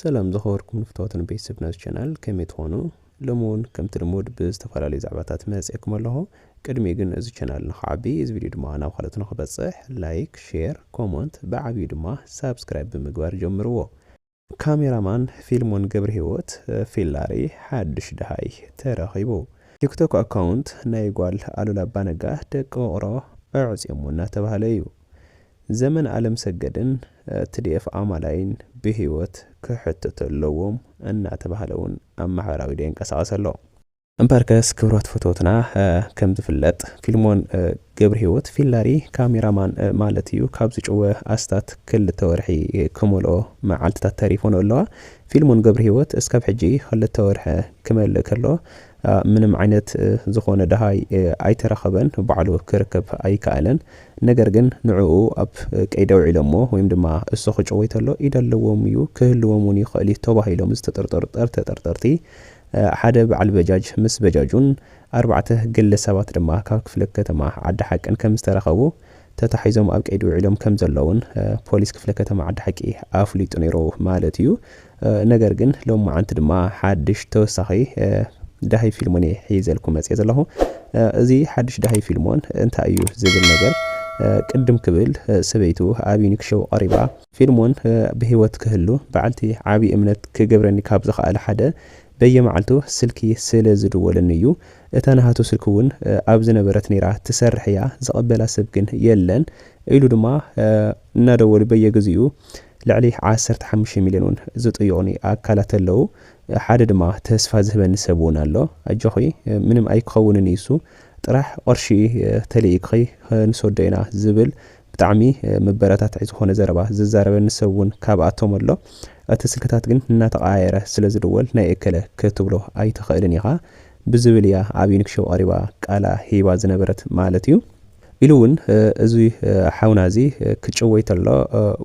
ሰላም ዝኸበርኩም ንፍተወትን ቤተሰብ ናዚ ቻናል ከመይ ትኾኑ ሎሚ እውን ከምቲ ልሙድ ብዝተፈላለዩ ዛዕባታት መፅኤኩም ኣለኹ ቅድሚ ግን እዚ ቻናል ንክዓቢ እዚ ቪድዮ ድማ ናብ ካልኦት ንክበፅሕ ላይክ ሼር ኮመንት ብዓብዩ ድማ ሳብስክራይብ ብምግባር ጀምርዎ ካሜራ ማን ፊልሞን ገብርሂወት፣ ፊላሪ፣ ሓዱሽ ደሃይ ተረኺቡ። ቲክቶክ ኣካውንት ናይ ጓል ኣሉላ ኣባነጋ ደቂ ውቕሮ ኣዕጽዮሞ እናተባህለ እዩ። ዘመን ኣለምሰገድን ትዲኤፍ ኣማላይን ብሂወት ክሕተቱ ኣለዎም እናተባህለ እውን ኣብ ማሕበራዊ ሚድያ ይንቀሳቐስ ኣሎ። እምበርከስ ክብረት ፈተውትና ከም ዝፍለጥ ፊልሞን ገብርሂወት ፊላሪ ካሜራ ማን ማለት እዩ ካብ ዝጭወ ኣስታት ክልተ ወርሒ ክመልኦ መዓልትታት ተሪፎን ኣለዋ ፊልሞን ገብርሂወት እስካብ ሕጂ ክልተ ወርሒ ክመልእ ከሎ ምንም ዓይነት ዝኾነ ደሃይ ኣይተረኸበን ባዕሉ ክርከብ ኣይከኣለን ነገር ግን ንዕኡ ኣብ ቀይዲ ኣውዒሎሞ ወይም ድማ እሱ ክጭወይ ተሎ ኢድ ኣለዎም እዩ ክህልዎም እውን ይኽእል እዩ ተባሂሎም ዝተጠርጠሩ ጠር ተጠርጠርቲ ሓደ በዓል በጃጅ ምስ በጃጁን ኣርባዕተ ግለ ሰባት ድማ ካብ ክፍለ ከተማ ዓዲ ሓቂን ከም ዝተረኸቡ ተታሒዞም ኣብ ቀይዲ ውዒሎም ከም ዘለዉን ፖሊስ ክፍለ ከተማ ዓዲ ሓቂ ኣፍሊጡ ነይሩ ማለት እዩ። ነገር ግን ሎማዓንቲ ድማ ሓድሽ ተወሳኺ ዳሂ ፊልሞን እየ ሒዘልኩም መፅየ ዘለኹ። እዚ ሓድሽ ዳሂ ፊልሞን እንታይ እዩ ዝብል ነገር ቅድም ክብል ሰበይቱ ኣብ ዩኒክ ሾው ቀሪባ ፊልሞን ብህይወት ክህሉ በዓልቲ ዓቢ እምነት ክገብረኒ ካብ ዝኸኣለ ሓደ በየመዓልቱ ስልኪ ስለ ዝድወለኒ እዩ። እታ ናሃቱ ስልኪ ውን ኣብ ዝነበረት ነይራ ትሰርሕ እያ ዝቕበላ ሰብ ግን የለን ኢሉ ድማ እናደወሉ በየግዜኡ ልዕሊ ዓሰርተ ሓሙሽተ ሚልዮን ውን ዝጥይቑኒ ኣካላት ኣለዉ ሓደ ድማ ተስፋ ዝህበኒ ሰብ ውን ኣሎ ኣጆኺ ምንም ኣይክኸውንን እዩ እሱ ጥራሕ ቕርሺ ተልኢክኺ ክንሰዶ ኢና ዝብል ብጣዕሚ መበረታትዒ ዝኾነ ዘረባ ዝዛረበኒ ሰብ ውን ካብኣቶም ኣሎ እቲ ስልክታት ግን እናተቐያየረ ስለ ዝድወል ናይ እከለ ክትብሎ ኣይትኽእልን ኢኻ ብዝብል እያ ኣብ ዩኒክ ሾው ቐሪባ ቃላ ሂባ ዝነበረት ማለት እዩ ኢሉ ውን እዚ ሓውና እዚ ክጭወይ ተሎ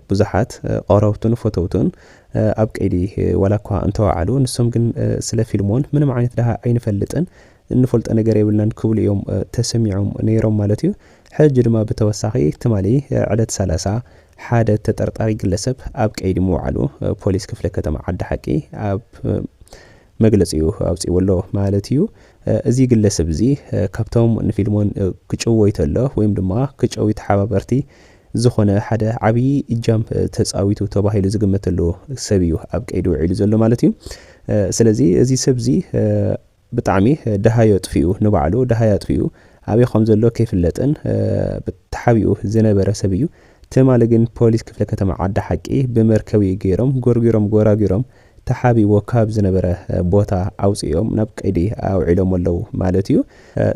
ብዙሓት ቐረብቱን ፈተውቱን ኣብ ቀይዲ ዋላ እኳ እንተወዓሉ ንሶም ግን ስለ ፊልሞን ምንም ዓይነት ደሃ ኣይንፈልጥን እንፈልጦ ነገር የብልናን ክብሉ እዮም ተሰሚዖም ነይሮም ማለት እዩ። ሕጂ ድማ ብተወሳኺ ትማሊ ዕለት ሰላሳ ሓደ ተጠርጣሪ ግለሰብ ኣብ ቀይዲ ምውዓሉ ፖሊስ ክፍለ ከተማ ዓዲ ሓቂ ኣብ መግለጺኡ ኣውጺኡ ኣሎ ማለት እዩ። እዚ ግለሰብ እዚ ካብቶም ንፊልሞን ክጭወይ ተሎ ወይም ድማ ክጨውዩ ተሓባበርቲ ዝኾነ ሓደ ዓብዪ እጃም ተጻዊቱ ተባሂሉ ዝግመተሉ ሰብ እዩ ኣብ ቀይዲ ውዒሉ ዘሎ ማለት እዩ። ስለዚ እዚ ሰብ እዚ ብጣዕሚ ደሃይ ኣጥፊኡ ንባዕሉ ደሃይ ኣጥፊኡ ኣበይ ከም ዘሎ ከይፍለጥን ተሓቢኡ ዝነበረ ሰብ እዩ። ትማሊ ግን ፖሊስ ክፍለ ከተማ ዓዲ ሓቂ ብመርከብ እዩ ገይሮም ጎርጒሮም ጎራጒሮም ተሓቢእዎ ካብ ዝነበረ ቦታ ኣውጺኦም ናብ ቀይዲ ኣውዒሎሞ ኣለዉ ማለት እዩ።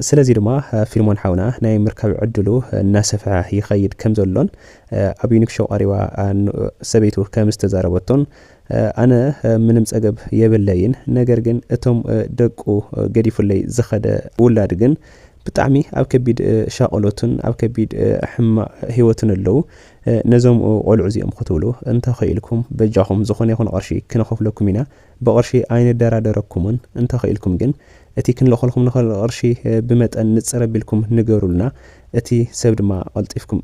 ስለዚ ድማ ፊልሞን ሓውና ናይ ምርካብ ዕድሉ እናሰፍሐ ይኸይድ ከም ዘሎን ኣብ ዩኒክ ሾው ቀሪባ ሰበይቱ ከም ዝተዛረበቶን ኣነ ምንም ጸገብ የብለይን ነገር ግን እቶም ደቁ ገዲፉለይ ዝኸደ ውላድ ግን ብጣዕሚ ኣብ ከቢድ ሻቆሎትን ኣብ ከቢድ ሕማቅ ሂወትን ኣለው ነዞም ቆልዑ እዚኦም ክትብሉ እንተ ኺኢልኩም በጃኹም ዝኾነ ይኹን ቕርሺ ክንኸፍለኩም ኢና ብቕርሺ ኣይንደራደረኩምን እንተ ኺኢልኩም ግን እቲ ክንልእኸልኩም ንኽእል ቕርሺ ብመጠን ንጽር ኣቢልኩም ንገሩልና እቲ ሰብ ድማ ቐልጢፍኩም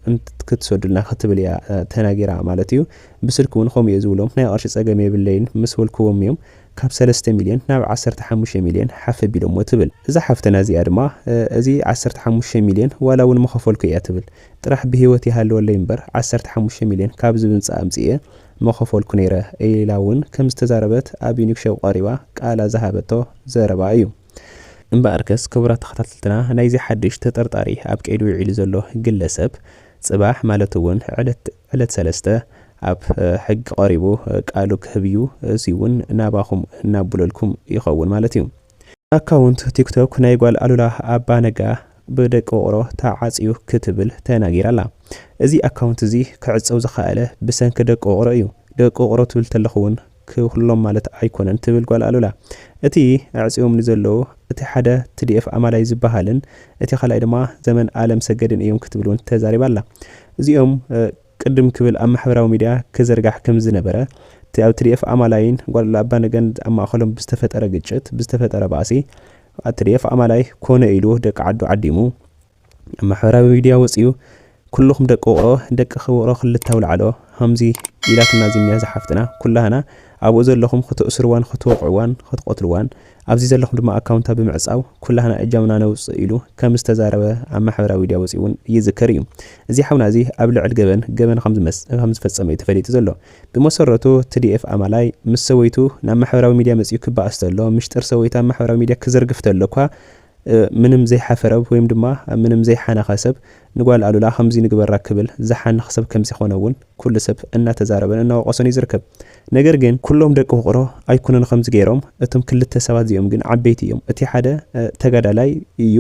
ክትሰዱልና ክትብል እያ ተናጊራ ማለት እዩ ብስልኪ ውን ከምኡ እየ ዝብሎም ናይ ቅርሺ ፀገም የብለይን ምስ በልክዎም እዮም ካብ ሰለስተ ሚልዮን ናብ ዓሰርተ ሓሙሽተ ሚልዮን ሓፍ ኣቢሎሞ ትብል እዛ ሓፍተና እዚኣ ድማ እዚ ዓሰርተ ሓሙሽተ ሚልዮን ዋላ ውን ምኸፈልኩ እያ ትብል ጥራሕ ብሂወት ይሃልወለይ እምበር ዓሰርተ ሓሙሽተ ሚልዮን ካብዚ ብንፃ ኣምፂኤ ምኸፈልኩ ነይረ ኢላ ውን ከም ዝተዛረበት ኣብ ዩኒክ ሸው ቀሪባ ቃላ ዝሃበቶ ዘረባ እዩ። እምበኣርከስ ክቡራት ተኸታተልትና ናይዚ ሓድሽ ተጠርጣሪ ኣብ ቀይዲ ዊዒሉ ዘሎ ግለሰብ ፅባሕ ማለት ውን ዕለት ዕለት ሰለስተ ኣብ ሕጊ ቀሪቡ ቃሉ ክህብ እዩ እዙይ እውን ናባኹም እናቡለልኩም ይኸውን ማለት እዩ። ኣካውንት ቲክቶክ ናይ ጓል ኣሉላ ኣባ ነጋ ብደቂ ውቕሮ ተዓፅዩ ክትብል ተናጊራ ኣላ። እዚ ኣካውንት እዚ ክዕፀው ዝኸኣለ ብሰንኪ ደቂ ውቕሮ እዩ። ደቂ ውቕሮ ትብል ተለኹ እውን ክብክሎም ማለት ኣይኮነን ትብል ጓል ኣሉላ። እቲ ኣዕጽዮምኒ ዘለዉ እቲ ሓደ ትዲኤፍ ኣማላይ ዝበሃልን እቲ ካልኣይ ድማ ዘመን ኣለምሰገድን እዮም ክትብል እውን ተዛሪባ ኣላ። እዚኦም ቅድም ክብል ኣብ ማሕበራዊ ሚድያ ክዝርጋሕ ከምዝነበረ እቲ ኣብ ትዲኤፍ ኣማላይን ጓል ኣሉላ ኣባነገን ኣብ ማእኸሎም ብዝተፈጠረ ግጭት ብዝተፈጠረ ባእሲ ትዲኤፍ ኣማላይ ኮነ ኢሉ ደቂ ዓዱ ዓዲሙ ኣብ ማሕበራዊ ሚድያ ወጺኡ ኩሉኹም ደቂ ውቕሮ ደቅኺ ውቕሮ ክልተ ኣውላዕሎ ሃምዚ ኢላትና ዚምያ ዛሓፍትና ኩላህና ኣብኡ ዘለኹም ኽትእስርዋን ኽትወቕዕዋን ኽትቐትልዋን ኣብዚ ዘለኹም ድማ ኣካውንታ ብምዕጻው ኩላህና እጃምና ነውጽእ ኢሉ ከም ዝተዛረበ ኣብ ማሕበራዊ ሚድያ ወጺኡ ውን ይዝከር እዩ እዚ ሓውና እዚ ኣብ ልዕል ገበን ገበን ከም ዝፈጸመ እዩ ተፈሊጡ ዘሎ ብመሰረቱ ትዲኤፍ ኣማላይ ምስ ሰወይቱ ናብ ማሕበራዊ ሚድያ መጺኡ ክባኣስ ተሎ ምሽጥር ሰወይታ ኣብ ማሕበራዊ ሚድያ ክዝርግፍ ተሎ እኳ ምንም ዘይሓፈረብ ወይም ድማ ምንም ዘይሓነኸ ሰብ ንጓል ኣሉላ ከምዙይ ንግበራ ክብል ዝሓንኽ ሰብ ከምዘይኾነ እውን ኩሉ ሰብ እናተዛረበን እናወቐሶን እዩ ዝርከብ። ነገር ግን። ኩሎም ደቂ ውቕሮ ኣይኮኑን ኸምዚ ገይሮም እቶም ክልተ ሰባት እዚኦም ግን ዓበይቲ እዮም እቲ ሓደ ተጋዳላይ እዩ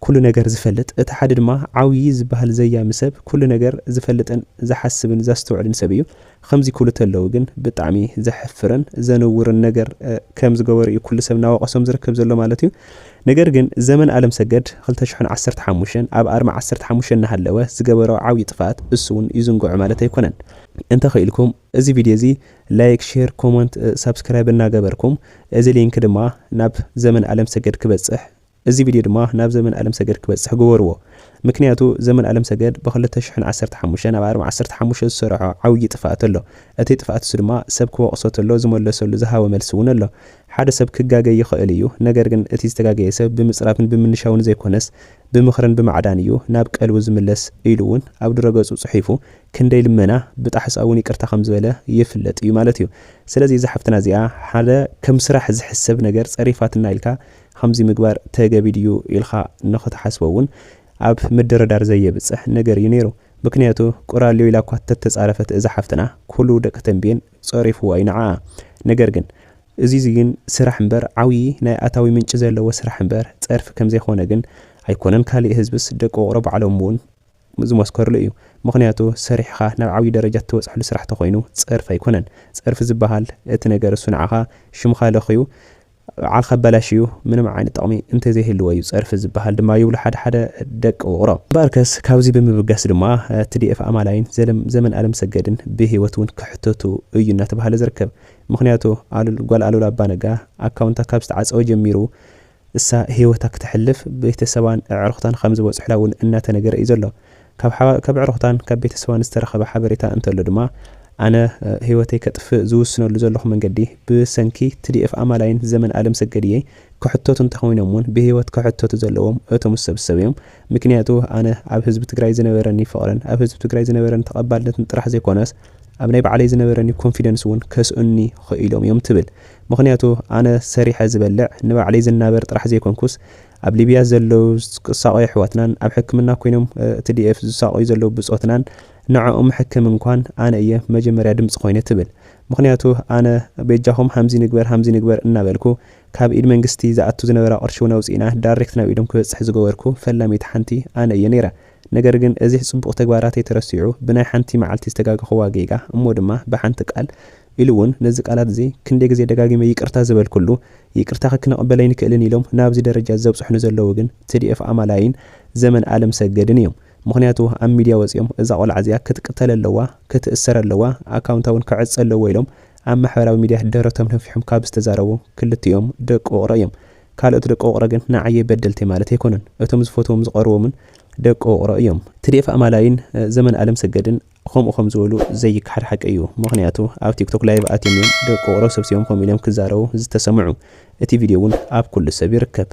ኩሉ ነገር ዝፈልጥ እቲ ሓደ ድማ ዓብዪ ዝበሃል ዘያሚ ሰብ ኩሉ ነገር ዝፈልጥን ዝሓስብን ዘስተውዕልን ሰብ እዩ ኸምዚ ክብሉ ተለዉ ግን ብጣዕሚ ዘሕፍርን ዘንውርን ነገር ከም ዝገበሩ እዩ ኩሉ ሰብ ናወቀሶም ዝርከብ ዘሎ ማለት እዩ ነገር ግን ዘመን ኣለምሰገድ ክልተ ሽሕን ዓሰርተ ሓሙሽተን ኣብ ኣርማ ዓሰርተ ሓሙሽተ እናሃለወ ዝገበሮ ዓብዪ ጥፍኣት እሱ ውን ይዝንግዖ ማለት ኣይኮነን እንተ ኽኢልኩም እዚ ቪድዮ እዚ ላይክ ሼር ኮሞንት ሳብስክራይብ እናገበርኩም እዚ ሊንክ ድማ ናብ ዘመን ኣለምሰገድ ክበፅሕ እዚ ቪድዮ ድማ ናብ ዘመን ኣለምሰገድ ክበጽሕ ግበርዎ ምክንያቱ ዘመን ኣለምሰገድ ብ ክልተ ሽሕን ዓሰርተ ሓሙሽተን ብ ኣርም ዓሰርተ ሓሙሽተ ዝሰረሖ ዓውዪ ጥፍኣት ኣሎ እቲ ጥፍኣት እሱ ድማ ሰብ ክወቅሶ ተሎ ዝመለሰሉ ዝሃቦ መልሲ ውን ኣሎ ሓደ ሰብ ክጋገይ ይክእል እዩ ነገር ግን እቲ ዝተጋገየ ሰብ ብምጽራፍን ብምንሻውን ዘይኮነስ ብምክርን ብማዕዳን እዩ ናብ ቀልቡ ዝምለስ ኢሉ ውን ኣብ ድረገጹ ጽሒፉ ክንደይ ልመና ብጣሕሳ ውን ይቅርታ ከም ዝበለ ይፍለጥ እዩ ማለት እዩ ስለዚ እዛ ሓፍትና እዚኣ ሓደ ከም ስራሕ ዝሕሰብ ነገር ጸሪፋትና ኢልካ ኸምዚ ምግባር ተገቢ ድዩ ኢልኻ ንኽትሓስቦ እውን ኣብ ምድርዳር ዘየብጽሕ ነገር እዩ ነይሩ። ምኽንያቱ ቁራልዮ ኢላ እኳ ተተጻረፈት እዛ ሓፍትና ኩሉ ደቂ ተምቤን ጸሪፍዋ እዩ ንዓኣ። ነገር ግን። እዙይዚ ግን ስራሕ እምበር ዓብዪ ናይ ኣታዊ ምንጪ ዘለዎ ስራሕ እምበር ጸርፊ ከምዘይኾነ ግን ኣይኮነን ካሊእ ህዝብስ ደቂ ውቕሮ ባዕሎም እውን ዝመስከርሉ እዩ። ምኽንያቱ ሰሪሕኻ ናብ ዓብዪ ደረጃ እትበጽሕሉ ስራሕ ተኾይኑ ጸርፊ ኣይኮነን። ጸርፊ ዝበሃል እቲ ነገር እሱ ንዓኻ ሽምኻ ለኽዩ በዓልካ ኣበላሽዩ ምንም ዓይነት ጥቕሚ እንተዘይህልዎ እዩ ጸርፊ ዝበሃል ድማ ይብሉ ሓደ ሓደ ደቂ ውቕሮ። እምበኣርከስ ካብዚ ብምብጋስ ድማ ትዲኤፍ ኣማላይን ዘመን ኣለምሰገድን ብህይወት እውን ክሕተቱ እዩ እናተብሃለ ዝርከብ። ምኽንያቱ ጓል ኣሉላ ኣባነጋ ኣካውንታ ካብ ዝተዓጸወ ጀሚሩ እሳ ህይወታ ክተሕልፍ ቤተሰባን ኣዕሩኽታን ከምዝበጽሑላ እውን እናተነገረ እዩ ዘሎ። ካብ ኣዕሩኽታን ካብ ቤተሰባን ዝተረኸበ ሓበሬታ እንተሎ ድማ፣ ኣነ ህይወተይ ከጥፍእ ዝውስነሉ ዘለኹ መንገዲ ብሰንኪ ትዲኤፍ ኣማላይን ዘመን ኣለምሰገድ እየ፣ ክሕተቱ እንተኾይኖም እውን ብህይወት ክሕተቱ ዘለዎም እቶም ዝሰብሰቡ እዮም፣ ምክንያቱ ኣነ ኣብ ህዝቢ ትግራይ ዝነበረኒ ፍቕርን ኣብ ህዝቢ ትግራይ ዝነበረኒ ተቐባልነትን ጥራሕ ዘይኮነስ ኣብ ናይ ባዕለይ ዝነበረኒ ኮንፊደንስ እውን ከስእኑኒ ኽኢሎም እዮም ትብል፣ ምኽንያቱ ኣነ ሰሪሐ ዝበልዕ ንባዕለይ ዝናበር ጥራሕ ዘይኮንኩስ ኣብ ሊብያ ዘለው ዝሳቐዩ ኣሕዋትናን ኣብ ሕክምና ኮይኖም ትዲኤፍ ዝሳቐዩ ዘለው ብጾትናን ንዐኦም ምሕክም እንኳን ኣነ እየ መጀመርያ ድምጺ ኮይነ ትብል ምኽንያቱ ኣነ ቤጃኹም ሃምዚ ንግበር ሃምዚ ንግበር እናበልኩ ካብ ኢድ መንግስቲ ዝኣቱ ዝነበራ ቅርሺውን ኣውጺእና ዳሬክት ናብ ኢዶም ክበጽሕ ዝገበርኩ ፈላሚት ሓንቲ ኣነ እየ ነይረ ነገር ግን እዚሕ ጽቡቕ ተግባራተይ ተረሲዑ ብናይ ሓንቲ መዓልቲ ዝተጋገኹዋ ጌጋ እሞ ድማ ብሓንቲ ቃል ኢሉ እውን ነዚ ቃላት እዚ ክንደይ ግዜ ደጋጊመ ይቅርታ ዝበልኩሉ ይቅርታኺ ክንቕበል ኣይንክእልን ኢሎም ናብዚ ደረጃ ዘብፅሑኒ ዘለዉ ግን ትዲኤፍ ኣማላይን ዘመን ኣለምሰገድን እዮም ምኽንያቱ ኣብ ሚድያ ወፂኦም እዛ ቆልዓ እዚኣ ክትቅተል ኣለዋ ክትእሰር ኣለዋ ኣካውንታ እውን ክዕፀ ኣለዎ ኢሎም ኣብ ማሕበራዊ ሚድያ ደረቶም ነፊሖም ካብ ዝተዛረቡ ክልቲኦም ደቂ ውቕሮ እዮም ካልኦት ደቂ ውቕሮ ግን ንዓየይ በደልተይ ማለት ኣይኮኑን እቶም ዝፈትዎም ዝቐርቦምን ደቂ ውቕሮ እዮም ትዲኤፍ ኣማላይን ዘመን ኣለምሰገድን። ኸምኡ ከም ዝበሉ ዘይከሓድ ሓቂ እዩ ምኽንያቱ ኣብ ቲክቶክ ላይቭ ኣትዮም እዮም ደቂቁሮ ሰብሲቦም ከምኡ ኢሎም ክዛረቡ ዝተሰምዑ እቲ ቪድዮ እውን ኣብ ኩሉ ሰብ ይርከብ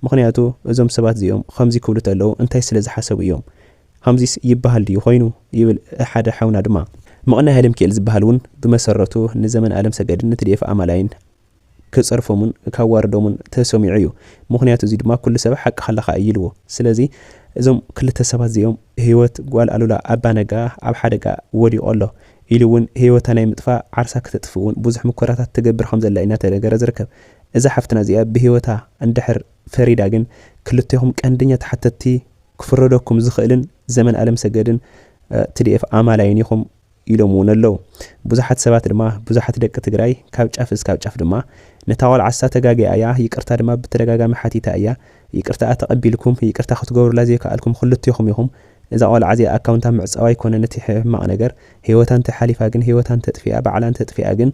ምኽንያቱ እዞም ሰባት እዚኦም ኸምዚ ክብሉ ተለው እንታይ ስለ ዝሓሰቡ እዮም ኸምዚስ ይበሃል ድዩ ኾይኑ ይብል ሓደ ሓውና ድማ ምቕናይ ኣለምኪኤል ዝበሃል እውን ብመሰረቱ ንዘመን ኣለምሰገድን ንትዲኤፍ ኣማላይን ክጸርፎምን ካዋርዶምን ተሰሚዑ እዩ ምኽንያቱ እዚ ድማ ኩሉ ሰብ ሓቅኻ ኣለኻ እዩ ኢልዎ ስለዚ እዞም ክልተ ሰባት እዚኦም ህይወት ጓል ኣሉላ ኣባ ነጋ ኣብ ሓደጋ ወዲቑ ኣሎ ኢሉ እውን ህይወታ ናይ ምጥፋእ ዓርሳ ክተጥፍእ እውን ብዙሕ ሙከራታት ትገብር ከም ዘላ እዩ እናተነገረ ዝርከብ እዛ ሓፍትና እዚኣ ብህይወታ እንድሕር ፈሪዳ ግን ክልቴኹም ቀንደኛ ተሓተትቲ ክፍረደኩም ዝኽእልን ዘመን ኣለምሰገድን ትዲኤፍ ኣማላይን ኢኹም ኢሎም እውን ኣለው። ብዙሓት ሰባት ድማ ብዙሓት ደቂ ትግራይ ካብ ጫፍ እስካብ ጫፍ ድማ ነታ ቆልዓሳ ተጋግያ እያ ይቅርታ ድማ ብተደጋጋሚ ሓቲታ እያ ይቅርታኣ ተቀቢልኩም ይቅርታ ክትገብሩላ ዘይከኣልኩም ክልቴኹም ኢኹም እዛ ቆልዓ እዚኣ ኣካውንታ ምዕፃው ኣይኮነን እቲ ሕማቅ ነገር ሂወታ እንተሓሊፋ ግን ሂወታ እንተጥፊኣ ባዕላ እንተጥፊኣ ግን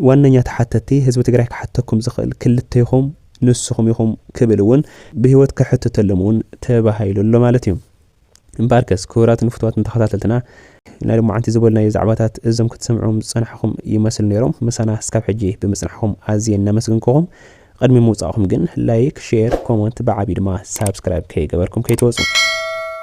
ዋነኛ ተሓተቲ ህዝቢ ትግራይ ክሓተኩም ዝኽእል ክልቴኹም ንስኹም ኢኹም ክብል እውን ብሂወት ከሕትተሎም እውን ተባሂሉ ኣሎ ማለት እዩ። እምበኣርከስ ክቡራትን ፍቱዋትን ተኸታተልትና፣ ናይ ሎማዓንቲ ዝበልናዮ ዛዕባታት እዞም ክትሰምዕዎም ዝጸናሕኹም ይመስሉ ነይሮም። ምሳና እስካብ ሕጂ ብምጽናሕኩም ኣዝየ እናመስገንኩኹም፣ ቕድሚ ምውጻእኩም ግን ላይክ፣ ሼር፣ ኮመንት ብዓቢኡ ድማ ሳብስክራይብ ከይገበርኩም ከይትወጹ።